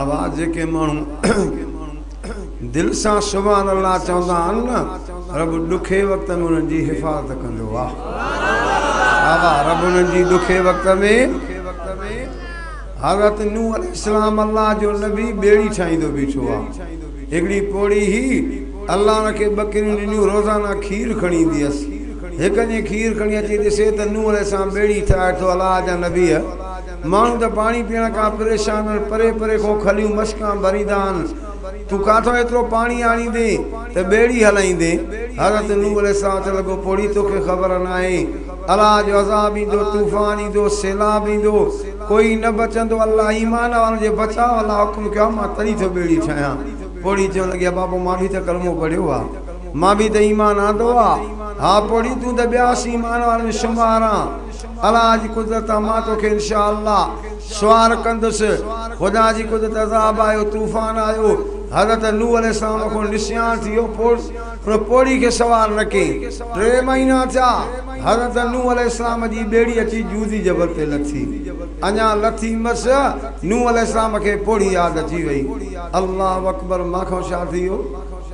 اوهان جيڪي ماڻهو دل سان سبحان الله چوندا آهن نه رب ڏکي وقت ۾ انهن جي حفاظت ڪندو واھ واھ واھ رب انهن جي ڏکي وقت ۾ حضرت نوح عليه السلام الله جو نبي ٻيڙي ٺاهيندو بيٺو آ هڪڙي پوڙهي هي الله ان کي ٻڪريون ڏنيون روزانه کير کڻي ايندي هيس هڪ ڏينهن کير کڻي اچي ڏسي ته نوح عليه السلام ٻيڙي ٺاهي ٿو الله جا نبي ماڻهو ته پاڻي پيئڻ کان پريشان آهن، پري پري کان کليون مشڪان ڀريندا آهن، تون ڪاٿان ايترو پاڻي آڻيندين ته ٻيڙي هلائيندين؟ حضرت نوح عليه السلام چوڻ لڳو، پوڙهي توکي خبر ناهي، الله جو عذاب ايندو، طوفان ايندو، سيلاب ايندو، ڪوئي نه بچندو، الله ايمان وارن جي بچاء لاء حڪم ڪيو آهي، مان تڏهن ٿو ٻيڙي ٺاهيان. پوڙهي چوڻ لڳي، ابا پوء مان به ته ڪلمو پڙهيو آهي، مان به ته ايمان آندو آهي، ها پوڙهي تون ته ٻيا سين ايمان وارن ۾ شمار آن. الله جي قدرت آ مان توکي انشاء الله سوار ڪندس خدا جي قدرت عذاب آيو طوفان آيو حضرت نوح عليه السلام کون نسيان ٿي ويو پوء ان پوڙهي کي سوار نه ڪئين ٽي مهينا ٿيا حضرت نوح عليه السلام جي ٻيڙي اچي جودي جبل تي لٿي اڃا لٿي مس نوح عليه السلام کي پوڙهي ياد اچي وئي الله اڪبر مان کان ڇا ٿي ويو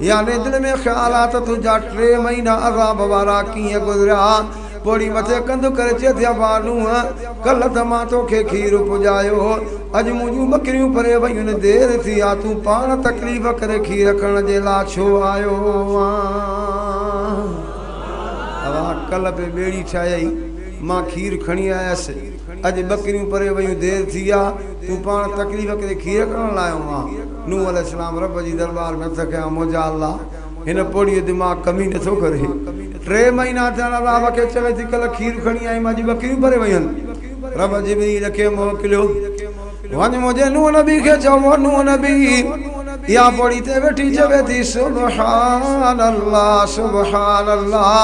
يعني دل ۾ خيال آ ته تنهنجا ٽي مهينا عذاب وارا ڪيئن گذريا. پوڙهي مٿي ڪنڌ ڪري چئي ٿي ابا نوح! ڪلهه ته مان توکي کير پڄايو. اڄ منهنجون ٻڪريون پري ويون. دير ٿي آ. تون پاڻ تڪليف ڪري کير کڻڻ جي لا ڇو آيو آن؟ ابا ڪلهه به ٻيڙي ٺاهيائي. مان کير کڻي آيس. اڄ ٻڪريون پري ويون. دير ٿي آ. تون پاڻ تڪليف ڪري کير کڻڻ لا آيو آن. نوح عليه السلام رب جي درٻار ۾ عرض ڪيائون، موجا الله! هن پوڙهيء دماغ ڪمي نه ٿو ڪري. ٽي مهينا ٿيا آهن الله کي چوي ٿي ڪلهه کير کڻي آئي مان اڄ ٻڪريون ڀري ويون آهن. رب جبريل کي موڪليو، وڃ منهنجي نوح نبي کي چئو، اهو نوح نبي اها پوڙهي تي ويٺي چوي ٿي، سبحان الله سبحان الله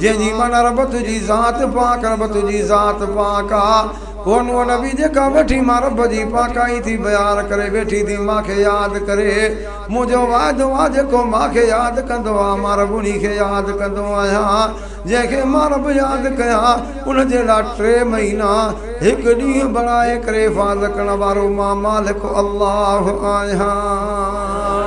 جنهن جي معنيٰ رب تنهنجي ذات پاڪ رب تنهنجي ذات پاڪ آ. هوء نوح نبي جي کان وٺي مان رب جي پاڪائي ٿي بيان ڪري ويٺي ٿي مان کي ياد ڪري منهنجو واعدو آهي جيڪو مان کي ياد ڪندو آهي مان رب انهي کي ياد ڪندو آهيان جنهن کي مان رب ياد ڪيان ان جي لاء ٽي مهينا هڪ ڏينهن بڻائي ڪري حفاظت ڪرڻ وارو مان مالڪ الله آهيان.